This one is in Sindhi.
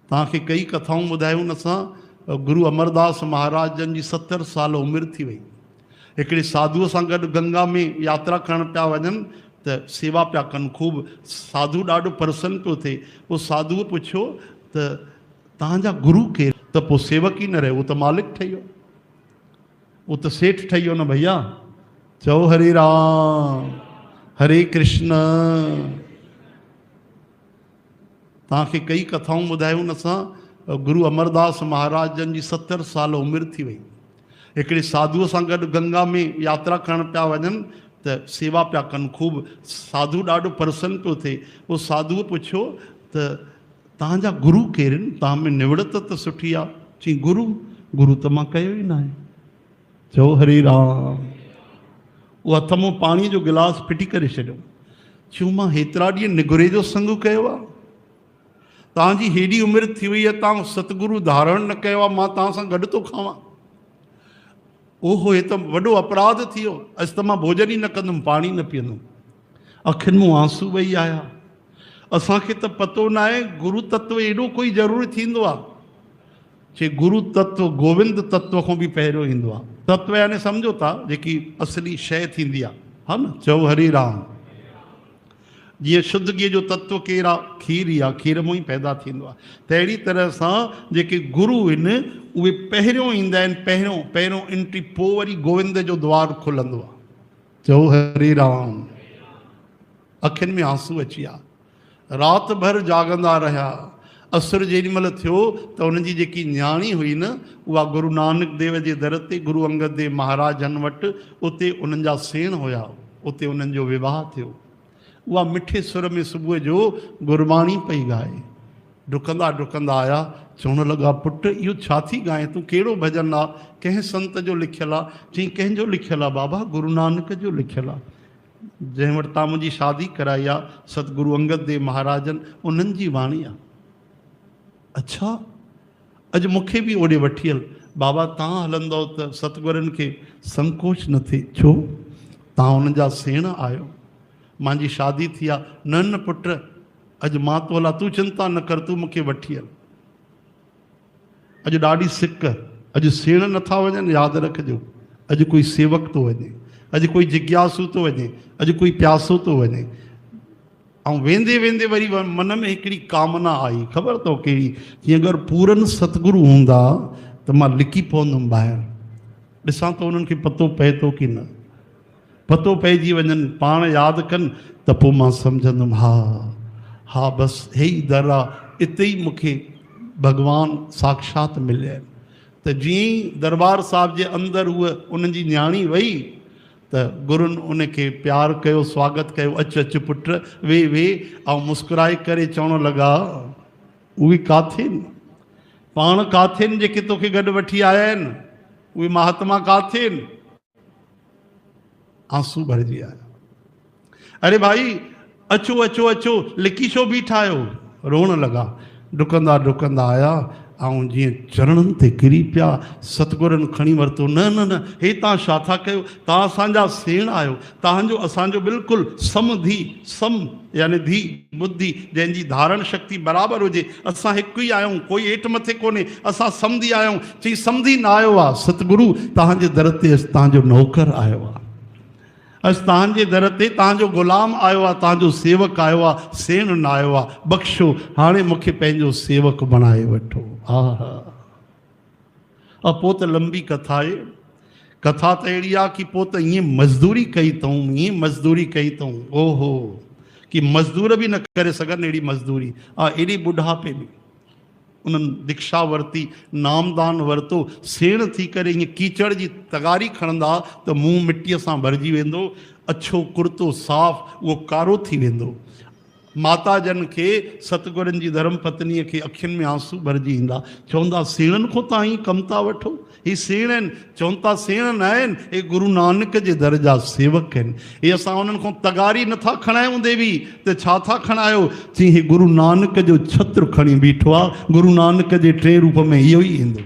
توهان کي ڪيئي ڪٿائون ٻڌايون اسان. گرو امرداس مهاراج جن جي ستر سال عمر ٿي وئي. هڪڙي ساڌوء سان گڏ گنگا ۾ ياترا ڪرڻ پيا وڃن ته سيوا پيا ڪن. خوب ساڌو ڏاڍو پرسن پيو ٿئي. پوء ساڌوء پڇيو ته توهان جا گرو ڪير؟ ته پوء سيوڪ ئي نه رهيو. هو ته مالڪ ٺهي ويو. هو ته سيٺ ٺهي ويو نه ڀئيا. چئو هري رام هري ڪرشن. توهان کي ڪيئي ڪٿائون ٻڌايون اسان. گرو امرداس مهاراج جن جي ستر سال عمر ٿي وئي. هڪڙي ساڌوء سان گڏ گنگا ۾ ياترا ڪرڻ پيا وڃن ته سيوا پيا ڪن. خوب ساڌو ڏاڍو پرسن پيو ٿئي. پوء ساڌوء پڇيو ته توهان جا گرو ڪيرن؟ توهان ۾ نوڙت ته سٺي آ. چيائين گرو؟ گرو ته مان ڪيو ئي ناهي. ٿيو هري رام. هو هٿ مون پاڻي جو گلاس ڦٽي ڪري ڇڏيو. ڇو مان هيترا ڏينهن نگوري جو سنگ ڪيو آ. توهان جي هيڏي عمر ٿي وئي آ توهان ستگرو ڌارڻ نه ڪيو آ مان توهان سان گڏ ٿو کاوان. اوهو هي ته وڏو اپراڌ ٿي ويو. اڄ ته مان ڀوڄن ئي نه ڪندم پاڻي نه پيئندم. اکين مون آنسو وهي آيا. اسان کي ته پتو ناهي گرو تتو ايڏو ڪوئي ضروري ٿيندو آ. کي گرو تتو، گووند تتو کان به پهريون ايندو آهي. تتو يعني سمجهو ٿا جيڪي اصلي شيء ٿيندي آهي. ها نه؟ چئو هري رام. جيئن شدگيء جو تتو ڪير آهي؟ کير ئي آهي. کير مان ئي پيدا ٿيندو آهي. تهڙي طرح سان جيڪي گرو هن اهي پهريون ايندا آهن، پهريون، پهريون انٽري، پوء وري گووند جو دوار کلندو آهي. چئو هري رام. اکين ۾ آنسو اچي ويا. رات ڀر جاڳندا رهيا. عصر جيڏي مهل ٿيو ته هن جي جيڪي نياڻي هئي نه اها گرو نانڪ ديو جي در تي گرو انگد ديو مهاراج جن وٽ اتي انهن جا سيڻ هيا اتي انهن جو وواهه ٿيو. اها مٺي سر ۾ صبح جو گرباڻي پئي ڳائي. ڊڪندا ڊڪندا آيا چوڻ لڳا پٽ اهو ڇا ٿي ڳائين تون ڪهڙو ڀڄن آ ڪنهن سنت جو لکيل آ چئين ڪنهن جو لکيل آ بابا گرو نانڪ جو لکيل آ. جنهن وٽ تان منهنجي شادي ڪرائي آ، ست گرو انگد ديو مهاراجن، انهن جي واڻي آ. اڇا! اڄ مون کي به اوڏي وٺي هل. بابا تان هلندؤ ته ست گرن کي سنڪوچ نه ٿئي. ڇو؟ تان انهن جا سيڻ آهيو. مانجي شادي ٿي آ. نه نه پٽ! اڄ مان تو هلان، تون چنتا نه ڪر، تون مون کي وٺي هل. اڄ ڏاڍي سڪ، اڄ سيڻ نٿا وڃن، ياد رکجو، اڄ ڪوئي سيوڪ ٿو وڃي، اڄ ڪوئي جگياسو ٿو وڃي، اڄ ڪوئي پياسو ٿو وڃي. ۽ ويندي ويندي وري من ۾ هڪڙي ڪامنا آئي، خبر اٿو ڪهڙي؟ چيائين اگر پورن ستگرو هوندا ته مان لڪي پوندم ٻاهر، ڏسان ته انهن کي پتو پئي ٿو ڪي نه. پتو پئجي وڃن، پاڻ ياد ڪن ته پوء مان سمجهندم ها ها بس هي ئي در آ، اتي ئي مون کي ڀڳوان ساکشات مليئي ته جيئن ئي درٻار صاحب جي اندر هوء انهن جي نياڻي وئي ته گرن ان کي پيار ڪيو سواگت ڪيو اچ اچ پٽ ويهه ويهه آئون مسڪرائي ڪري چوڻ لڳا اهي ڪاٿين پاڻ ڪاٿين جيڪي توکي گڏ وٺي آيا آهن اهي مهاتما ڪاٿين. آنسو ڀرجي آيا. اري ڀائي اچو اچو اچو لڪي ڇو بيٺا آهيو؟ روئڻ لڳا. ڊڪندا ڊڪندا آيا آئون جيئن چرڻن تي ڪري پيا. ستگورن کڻي ورتو. نه نه نه هي توهان ڇا ٿا ڪيو؟ توهان اسان جا سيڻ آهيو. توهان جو اسان جو بلڪل سم ڌي سم. يعني ڌي، ٻڌي، جنهن جي ڌارڻ شڪتي برابر هجي. اسان هڪ ئي آهيون، ڪوئي هيٺ مٿي ڪونهي، اسان سمڌي آهيون. چئي سمڌي نه آيو آ، ستگرو توهان جي در تي اڄ توهان جو نوڪر آيو آ. اڄ توهان جي در تي توهان جو غلام آيو آ، توهان جو سيوڪ آيو آ، سيڻ نه آيو آ. بخشو، هاڻي مون کي پنهنجو سيوڪ بڻائي وٺو. آهه! اھا پوء ته لنبي ڪٿا آھي. ڪٿا ته اھڙي آھي ڪي پوء ته ائين مزدوري ڪئي تئون، ائين مزدوري ڪئي تئون، او ھو! ڪي مزدور به نه ڪري سگھن اھڙي مزدوري. آء ايڏي ٻڍاپي ۾. انھن ديکشا ورتي، نامدان ورتو، سيڻ ٿي ڪري ائين ڪيچڙ جي تغاري کڻندا ته منھن مٽيء سان ڀرجي ويندو، اڇو ڪرتو صاف اھو ڪارو ٿي ويندو. ماتا جن کي ستگرن جي ڌرم پتنيء کي اکين ۾ آنسو ڀرجي ايندا. چوندا سيڻن کون تان ائين ڪم ٿا وٺو. هي سيڻ آهن. چون ٿا سيڻ نه آهن. اهي گرو نانڪ جي در جا سيوڪ آهن. اهي اسان انهن کون تغاري نه ٿا کڻايون ديوي ته ڇا ٿا کڻايو. چيائين هي گرو نانڪ جو ڇتر کڻي بيٺو آهي. گرو نانڪ جي ٽئين روپ ۾ اهو ئي ايندو.